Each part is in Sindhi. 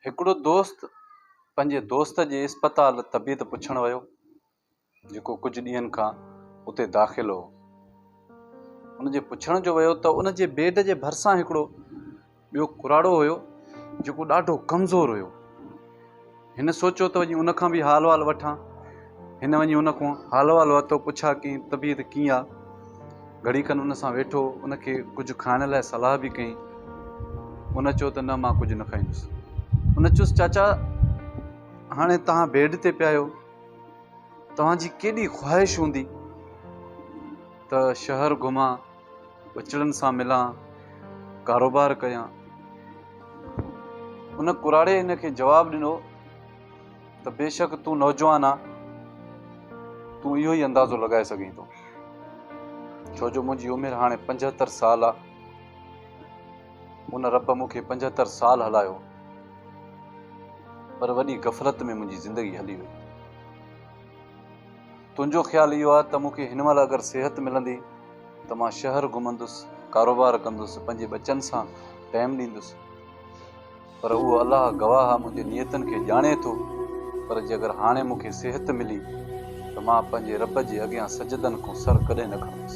هڪڙو دوست پنهنجي دوست جي اسپتال طبيعت پڇڻ ويو جيڪو ڪجهه ڏينهن کان اتي داخل هو ان جي پڇڻ جو ويو ته ان جي بيڊ جي ڀرسان هڪڙو ٻيو ڪراڙو هيو جيڪو ڏاڍو ڪمزور هيو هن سوچيو ته وڃي ان کان به حال وال وٺان هن وڃي ان کان حال احوال ورتو، پڇا ڪيائين طبيعت ڪيئن آ؟ گهڙي کن ان سان ويٺو، ان کي ڪجهه کائڻ لاء صلاح به ڪيائين. ان چيو ته نه مان ڪجهه نه کائيندس. ان چيس چاچا هاڻي توهان بيڊ تي پيا آهيو، توهان جي ڪيڏي خواهش هوندي ته شهر گهمان، ٻچڙن سان ملان، ڪاروبار ڪيان. ان ڪراڙي هن کي جواب ڏنو. ته بيشڪ تون نوجوان آهين، تون اهو ئي اندازو لڳائي سگهين ٿو، ڇو جو منهنجي عمر هاڻي پنجهتر سال آهي، ان رب مون کي پنجهتر سال هلايو، پر وڏي غفلت ۾ منهنجي زندگي هلي وئي. تنهنجو خيال اهو آهي ته مون کي هن مهل اگر صحت ملندي ته مان شهر گهمندس، ڪاروبار ڪندس، پنهنجي ٻچن سان ٽائيم ڏيندس. پر اهو الله گواهه آ منهنجي نيتن کي ڄاڻي ٿو پر جي اگر هاڻي مون کي صحت ملي ته مان پنهنجي رب جي اڳيان سجدن کون سر ڪڏهن نه کڻندس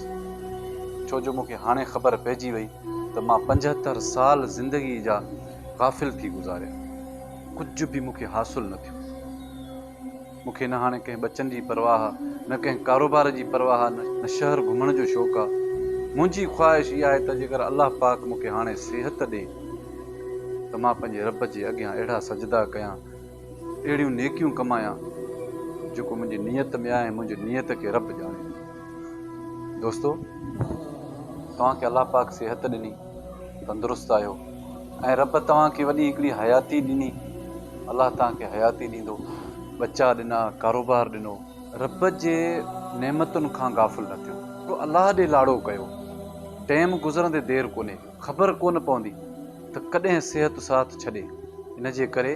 ڇو جو مون کي هاڻي خبر پئجي وئي ته مان پنجهتر سال زندگي جا غافل ٿي گذاريا ڪجهه به مون کي حاصل نه ٿيو. مون کي نه هاڻي ڪنهن ٻچن جي پرواهه، نه ڪنهن ڪاروبار جي پرواهه، نه شهر گهمڻ جو شوق آ. منهنجي خواهش اها آهي ته جيڪر الله پاڪ مون کي هاڻي صحت ڏي ته مان پنهنجي رب جي اڳيان اهڙا سجدا ڪيان، اهڙيون نيڪيون ڪمايان جيڪو منهنجي نيت ۾ آهي ۽ منهنجي نيت کي رب ڄاڻي ٿو. دوستو! توهان کي الله پاڪ صحت ڏني. تندرست آهيو ۽ رب توهان کي وڏي هڪڙي حياتي ڏني الله توهان کي حياتي ڏيندو ٻچا ڏنا ڪاروبار ڏنو رب جي نعمتن کان غافل نه ٿيو ته الله ڏي لاڙو ڪيو ٽيم گذرندي دير ڪونهي خبر ڪونه پوندي ته ڪڏهن صحت ساٿ ڇڏي ان جي ڪري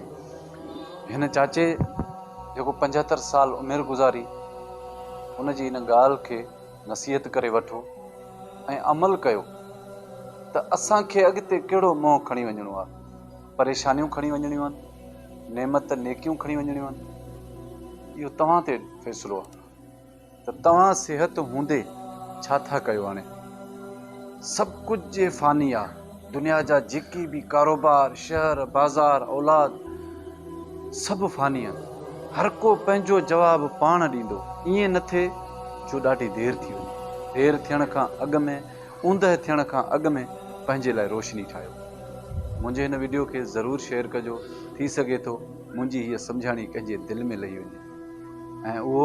هن چاچي جيڪو پنجهتر سال عمر گذاري ان جي ان ڳالهه کي نصيحت ڪري وٺو ۽ عمل ڪيو ته اسان کي اڳتي ڪهڙو منهن کڻي وڃڻو آهي، پريشانيون کڻي وڃڻيون آهن، نعمت نيڪيون کڻي وڃڻيون آهن، اهو توهان تي فيصلو آهي ته توهان صحت هوندي ڇا ٿا ڪيو هاڻي سڀ ڪجهه فاني آهي. دنيا جا جيڪي به ڪاروبار، شهر، بازار، اولاد سڀ فاني آهن. هر ڪو پنهنجو جواب پاڻ ڏيندو. ائين نه ٿئي جو ڏاڍي دير ٿي وڃي. دير ٿيڻ کان اڳ ۾ اوندهه ٿيڻ کان اڳ ۾ پنهنجي لاء روشني ٺاهيو. منهنجي هن وڊيو کي ضرور شيئر ڪجو ٿي سگهي ٿو منهنجي هيء سمجهاڻي ڪنهن جي دل ۾ لهي وڃي ۽ اهو